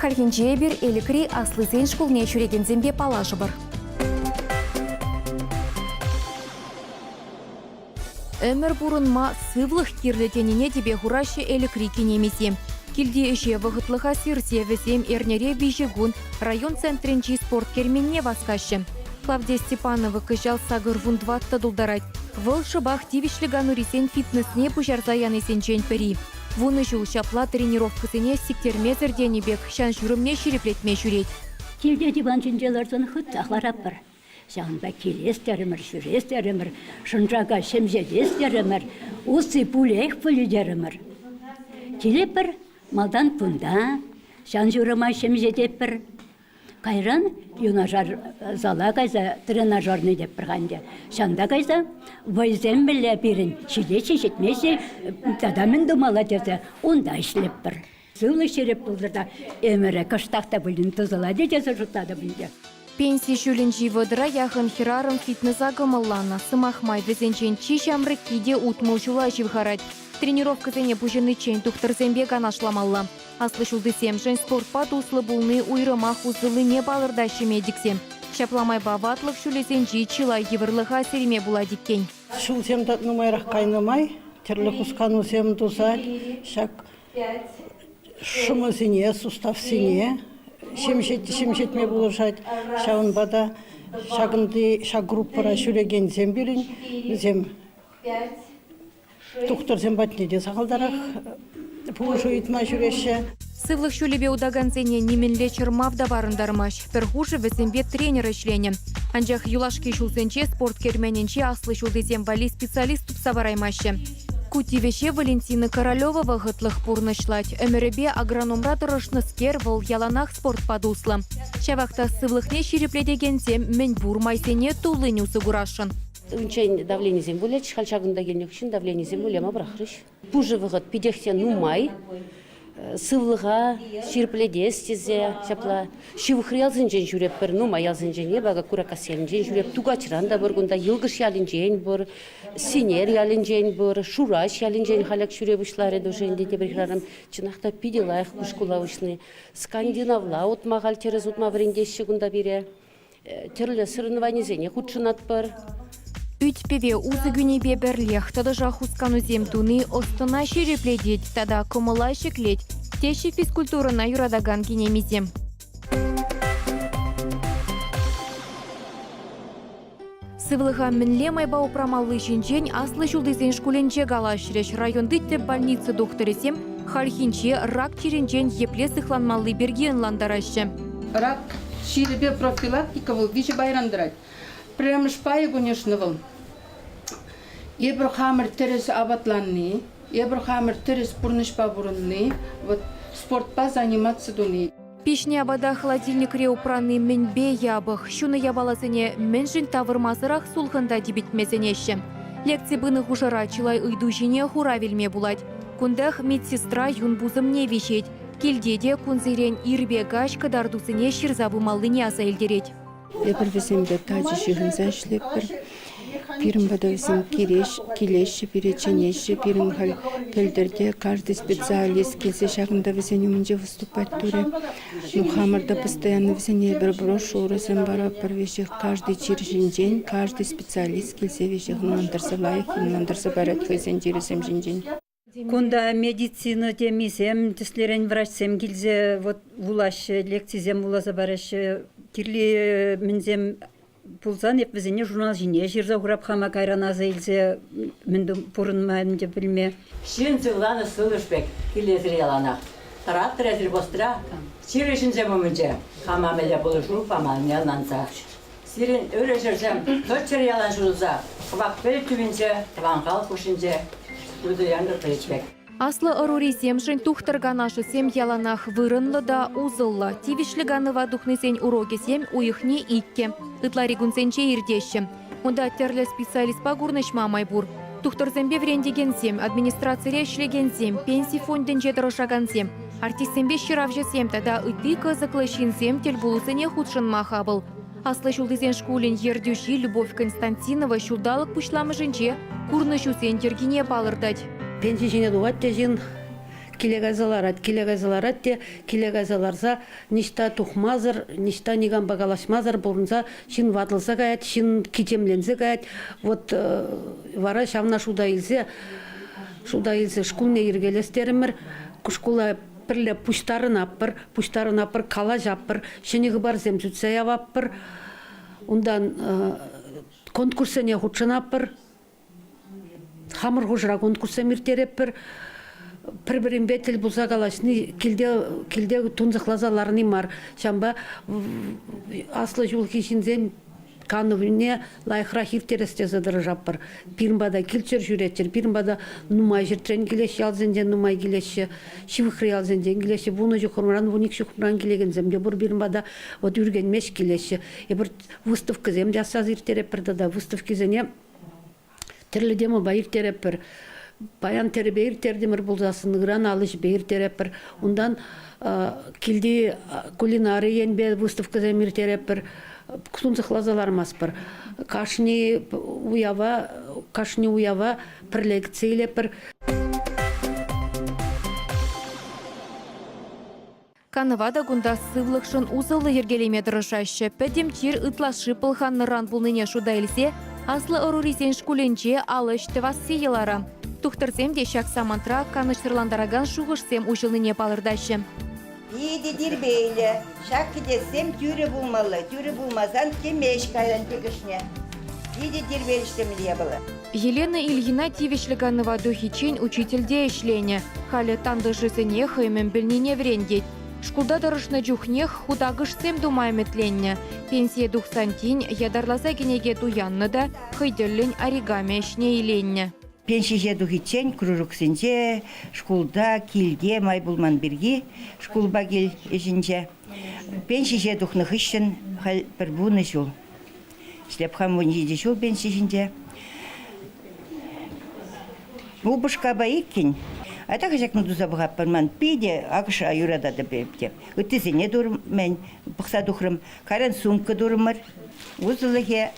Хальхинче эпир Элӗкри аслисен шкулне ҫӳрекенсемпе паллашӑпӑр. Ӗмӗр пурӑнма сывлӑх кирлӗ тенине тӗпе хураҫҫӗ Элӗкри кинемисем. Килти ӗҫе вӑхӑтлӑха сирсе вӗсем эрнере виҫӗ кун район центрӗнчи спорт керменне васкаҫҫӗ. Клавдия Степанова кӑҫал сакӑр фунтва тӑтӑлтарать. Вӑл шӑпах тивӗҫлӗ канурисен фитнесне пуҫарса янисенчен пӗри. Вунӑ ҫул ҫапла тренировкӑсене сиктермесӗр тенӗ пек ҫан-ҫурӑмне ҫирӗплетме ҫӳрет. Килте диван ҫинче ларсан хытах ларатпӑр. Ҫавӑнпа килес терӗмӗр, ҫӳрес терӗмӗр, шӑнчака ҫемҫетес терӗмӗр, усси пулех пулӗ терӗмӗр. Килетпӗр малтан кунта, ҫан-ҫурӑма ҫемҫететпӗр. Кайран юнашар зала кайса тренажерный тепӗр-ха ӗнтӗ. Ҫанта кайса вӑйсем мӗнле пирӗн ҫитеҫҫӗ, ҫитмеҫҫӗ, тата мӗн тумалла тесе унта ӗҫлетпӗр. Сывлӑш ҫирӗп пултӑр та ӗмӗрӗ кӑштах та пулин тӑсӑлать тесе шутлатӑп ӗнтӗ. Пенси ҫулӗнчи вӑтӑра яхӑн хӗрарӑм фитнеса кӑмӑлланӑ. Сӑмах май, вӗсенчен чи ҫамрӑкки те утмӑл ҫула ҫывхарать. Тренировкӑсене пуҫӑниччен тухтӑрсемпе канашламалла. Аслӑ ҫултисемшӗн спортпа туслӑ пулни уйрӑмах усӑллине палӑртаҫҫӗ медиксем. Ҫапла майпа ватлӑх ҫулӗсенчи чылай йывӑрлӑха сирме пулать иккен. Ҫулсем тӑк нумайрах кайнӑ май тӗрлӗ хусканусем туса ҫак шӑмӑсене, суставсене ҫемҫетме пулӑшать. Ҫавӑнпа та ҫакӑнти ҫак группӑра ҫӳрекенсем пирӗн, вӗсем Тухтӑрсем патне те сахалтарах пулӑшу ыйтма ҫӳреҫҫӗ. Сывлӑх ҫулӗпе утакансене нимӗнле чӑрмав та парӑнтармасть. Пӗр хушӑ вӗсемпе тренер ӗҫленӗ. Анчах юлашки ҫулсенче спорт керменӗнчи аслӑ ҫултисем валли специалист тупса параймаҫҫӗ. Ку тивӗҫе Валентина Королева вӑхӑтлӑх пурнӑҫлать. Ӗмӗрӗпе агрономра тӑрӑшнӑскер вӑл яланах спортпа туслӑ. Ҫавах та сывлӑхне ҫирӗплетекенсем мӗн пур майсене туллин усӑ курасшӑн. Унччен давленисем вылять, халь ҫакӑнта килнӗ хыҫҫӑн давленисем выляма пӑрахрӗҫ. Пушӑ вӑхӑт питех те нумай. Сывлӑха ҫирӗплетес тесе ҫапла ҫывӑхри ялсенчен ҫӳретпӗр, нумай ялсенчен эпӗ Куракас ялӗнчен ҫӳреп, Тукачран та пур, кунта Йӑлкӑш ялӗнчен пур, Синер ялӗнчен пур, Шураҫ ялӗнчен халех ҫӳре пуҫларӗ тӑшӑ ӗнтӗ тепӗр хӗрарӑм. Чӑнах та питӗ лайӑх ку шкула уҫни. Скандинавла утма, халь тӗрӗс утма вӗрентеҫҫӗ кунта пире. тӗрлӗ соревнованисене хутшӑнатпӑр. Ӳт-пӗве усӑ кӳнипе пӗрлех тӑтӑшах хусканусем туни ӑс-тӑна ҫирӗплетет тата кӑмӑла ҫӗклет, теҫҫӗ физкультурӑна юратакан кинемисем. Сывлӑха мӗнле майпа упрамалли ҫинчен аслӑ ҫултисен шкулӗнче калаҫрӗҫ. Районти тӗп больница тухтӑрӗсем хальхинче рак чирӗнчен епле сыхланмалли пирки ӑнлантараҫҫӗ. Рак чирӗпе профилактика вӑл виҫӗ пайран тӑрать. Пӗрремӗш пайӗ кунӗшнӑ вӑл. Эпир хамӑр тӗрӗс апатланни, эпир хамӑр тӗрӗс пурнӑҫпа пурӑнни, вӑт спортпа заниматься туни. Пиҫнӗ апата холодильникре упранни мӗнпе япӑх? Ҫунӑ япаласене мӗншӗн тавӑрмасӑрах сулхӑнта типӗтме сӗнеҫҫӗ? Лекци пынӑ хушӑра чылай ыйту ҫине хурав илме пулать. Кунтах медсестра юн пусӑмне виҫет. Килте те кунсерен ирпе каҫ кӑтартусене ҫырса пымаллине аса илтерет. Эпир вӗсемпе тачӑ ҫыхӑнса ӗҫлетпӗр. Пирӗн пӑтӑвсем килеҫҫӗ, пире чӗнеҫҫӗ. Пирӗн халь пӗлтӗрте каждый специалист килсе ҫакӑнта вӗсен умӗнче выступать турӗ. Ну, хамӑр та постоянно вӗсене эпир брошюрӑсем паратпӑр веҫех. Каждый чир ҫинчен каждый специалист килсе веҫех ӑнлантарса лайӑх ӑнлантарса парать хӑйсен чирӗсем ҫинчен. Кунта медицина темисем, тӗслерен врачсем килсе вот вулаҫҫӗ, лекцисем вуласа параҫҫӗ. Кирли мӗнсем пулсан эп вӗсене журнал ҫине ҫырса хурап хама кайран аса илсе мӗн пурӑнма ӗнтӗ пӗлме. Ҫын сывланӑ сывлӑш пек килесӗр яланах. Тӑратрӗ сельхозра чир ӗҫӗнсем умӗнче хама мӗнле пулӑшу паманни ӑнланса. Сирӗн ырӑ ҫӗрсем тӑччӑр ялан ҫунса, кӑвак-пӗл тӳпинче, тӑван халӑх хушшинче, Людо Яндыклович пек. Аслӑ ӑрурисемшӗн тухтӑр канашӗсем яланах вырӑнлӑ та усӑллӑ. Тивӗҫлӗ канӑва тухнисен урокӗсем уйӑхне иккӗ, ытлари кунсенче иртеҫҫӗ. Унта тӗрлӗ специалистпа курнӑҫма май пур. Тухтӑрсемпе вӗрентекенсем, администрацире ӗҫлекенсем, пенси фондӗнче тӑрӑшакансем, Артистсемпе ҫыравҫӑсем тата ытти кӑсӑклӑ ҫынсем тӗлпулусене хутшӑнма хапӑл. Аслӑ ҫултисен шкулӗн ертӳҫи Любовь Константинова ҫулталӑк пуҫламӑшӗнче курнӑҫусен йӗркине палӑртать. Пенси ҫине тухать те ҫын, киле кайса ларать, киле кайса ларать те киле кайса ларса ниҫта тухмасӑр, ниҫта никампа калаҫмасӑр пурӑнса ҫын ватӑлса каять, ҫын кичемленсе каять. Вот вара ҫавна шута илсе Шкулта илсе шкулне йӗркелес терӗмӗр. Шкула пӗрле пуҫтарӑнатпӑр, пуҫтарӑнатпӑр, калаҫатпӑр, ҫӗнӗ хыпарсем сӳтсе яватпӑр. Унтан конкурссене хутшӑнатпӑр. Хамӑр хушӑра конкурссем ирттеретпӗр. Пӗр-пӗринпе тӗл пулса калаҫни килте килте тунсӑхласа ларни мар. Ҫавӑнпа аслӑ ҫулхи ҫынсем канӑвне лайӑхрах ирттерес тесе тӑрӑшатпӑр. Пирӗн пата килччӗр ҫӳреччӗр, пирӗн пата нумай ҫӗртрен килеҫҫӗ, ялсенчен нумай килеҫҫӗ, ҫывӑхри ялсенчен килеҫҫӗ. Вунӑ чухӑмран, вун икӗ ҫухӑмран килекенсем те пур пирӗн пата. Вот Ӳркенмеш килеҫҫӗ. Эпир выставкӑсем те асраса ирттеретпӗр тата. Выставкисене Тӗрлӗ темӑпа ирттеретпӗр. Паян тӗрӗпе ирттертӗмӗр пулсассӑн, ыран ал ӗҫӗпе ирттеретпӗр. Унтан килти кулинари енпе выставкӑсем ирттеретпӗр. Сунсӑхласа лармастпӑр. Кашни уява кашни уява пӗр лекци илетпӗр. Канӑва та кунта сывлӑхшӑн усӑллӑ йӗркелеме тӑрӑшаҫҫӗ. Пӗтӗм чир ытлашши пӑлханнӑран пулнине шута илсе аслӑ ӑрурисен шкулӗнче ал ӗҫ тӑвасси йӑлара. Тухтӑрсем те ҫак самантра канӑҫсӑрлантаракан шухӑшсем уҫӑлнине палӑртаҫҫӗ. Питӗ тирпейлӗ. Ҫак кӗтессем тӳрӗ пулмалла, тӳрӗ пулмасан темеҫ паян тӗкӗшне. Питӗ тирпейлӗ ҫемье япала. Елена Ильина тивӗҫлӗ канӑва тухиччен учительте ӗҫленӗ. Халӗ тантӑшӗсене хӑй мӗн пӗлнине вӗрентет. Шкулта тӑрӑшнӑ чухнех хутакӑшсем тума ӗмӗтленнӗ. Пенсие тухсан тин ятарласа кӗнеке туяннӑ та хӑй тӗллӗн оригами ӗҫне иленнӗ. Пенсие тухиччен кружоксенче, шкулта, килте май пулман пирки шкулпа кил ӗҫӗнче. Пенсие тухнӑ хыҫҫӑн халь пӗр вунӑ ҫул. Ҫтепхан вун ҫичӗ ҫул пенси ҫинче. Упӑшкапа иккӗн. А так ҫакна туса пӑхатпӑр ман. Питӗ акӑша юрататӑп эп те. Ыттисене турмӗн, пӑхса тухрӑм. Кайран сумка турӑмӑр. Усӑлӑхӗ,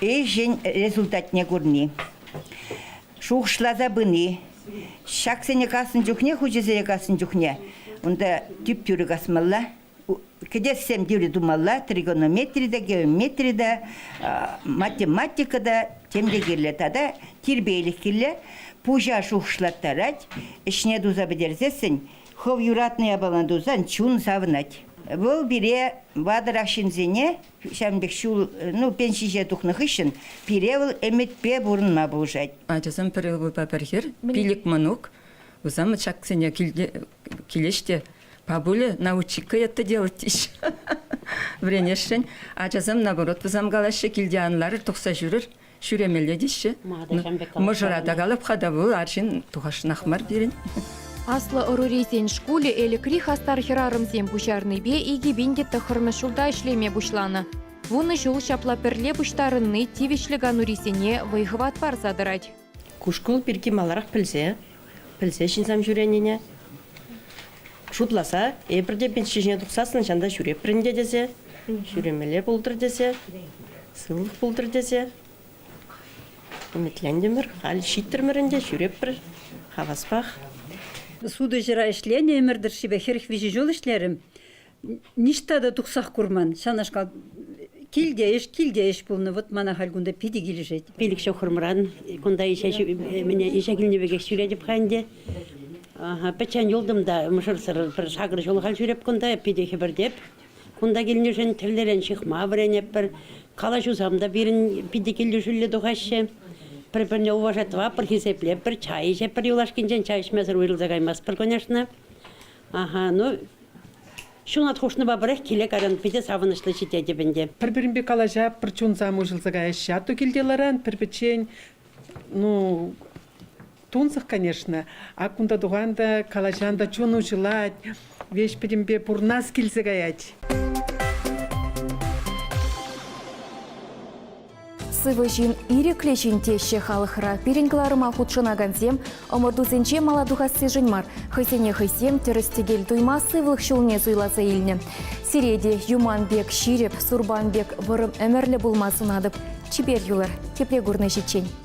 ӗҫӗн результатне курни, шухӑшласа пыни. Ҫаксене каснӑ чухне, хучӗсене каснӑ чухне унта тӳп-тӳрӗ касмалла. кӗтессем тӳрӗ тумалла тригонометри те геометри те математика та тем те кирлӗ тата тирпейлӗх кирлӗ пуҫа шухӑшлаттарать ӗҫне туса пӗтерсессӗн хӑв юратнӑ япалана тусан чун савӑнать вӑл пире ватӑрах ҫынсене ҫавӑн пек ҫул ну пен ҫиҫе тухнӑ хыҫҫӑн пире вӑл ӗмӗтпе пурӑнма пулӑшать ачасем пӗр ывӑлпа пӗр хӗр пилӗк мӑнук усамӑт ҫаксене киле килеҫ те Папуля, научика ятта делать теҫҫӗ. Вӗренесшӗн. Ачасем, наоборот, высам калаҫҫӗ, килте ан ларӑр, тухса ҫӳрӗр, ҫӳремелле теҫҫӗ. Мӑшӑра та калап-ха та вӑл арҫын тухасшӑнах мар пирӗн. Аслӑ ӑрурисен шкулӗ Элӗкри хастар хӗрарӑмсем пуҫарнипе икӗ пин те тӑххӑрмӗш ҫулта ӗҫлеме пуҫланӑ. Вунӑ ҫул ҫапла пӗрле пуҫтарӑнни тивӗҫлӗ канурисене вӑй-хӑват парса тӑрать. Кушкӑл пирки маларах пӗлсе, пӗлсе ҫынсем ҫӳренине шутласа эпир те пенси ҫине тухсассӑн ҫан та ҫӳреппӗр ӗнтӗ тесе, ҫӳремелле пултӑр тесе, сывлӑх пултӑр тесе ӗмӗтлентӗмӗр. Халь ҫиттӗрмӗр ӗнтӗ, ҫӳреппӗр хаваспах. Сутуҫӑра ӗҫленӗ ӗмӗр тӑршшӗпе хӗрӗх виҫӗ ҫул ӗҫлерӗм. Ниҫта та тухсах курман. Ҫавнашкал килте ӗҫ, килте ӗҫ пулнӑ. Вӑт мана халь кунта питӗ килӗшет. Пилӗк ҫухрӑмран кунта ӗҫе мене ӗҫе килнӗ пекех ҫӳретӗп-ха ӗнтӗ. Пӗччен юлтӑм та мӑшӑрсӑр пӗр сакӑр ҫул халь ҫӳреп кунта, питӗ хӗпӗртеп. Кунта килнӗшӗн тӗллерен ҫыхма вӗренӗпӗр. Калаҫусам та пирӗн питӗ килӗшӳллӗ тухаҫҫӗ. Пӗр-пӗрне уважать тӑватпӑр, хисеплетпӗр, чай ӗҫетпӗр, юлашкинчен чай ӗҫмесӗр уйрӑлса каймастпӑр, конечно. Аха, ну, ҫунат хушнипа пӗрех киле-кайран питӗ савӑнӑҫлӑ ҫитетӗп ӗнтӗ. Пӗр-пӗринпе калаҫап-пӑр чунсам уҫӑлса каяҫҫӗ. Атту килте ларан, пӗр-пӗччен, ну, тунсӑх, конечно. Ак кунта тухан та, калаҫан та чун уҫӑлать. Веҫ-пӗтӗмпе пурнас килсе каять. Сывӑ ҫын ирӗклӗ ҫын теҫҫӗ халӑхра. Пирӗн кӑларӑма хутшӑнакансем ӑмӑртусенче мала тухассишӗн мар, хӑйсене хӑйсем тӗрӗс-тӗкел туйма сывлӑх ҫулне суйласа илнӗ. Сире те юман пек ҫирӗп, сурпан пек вӑрӑм ӗмӗрлӗ пулма сунатӑп. Чипер юлӑр, тепре курнӑҫиччен.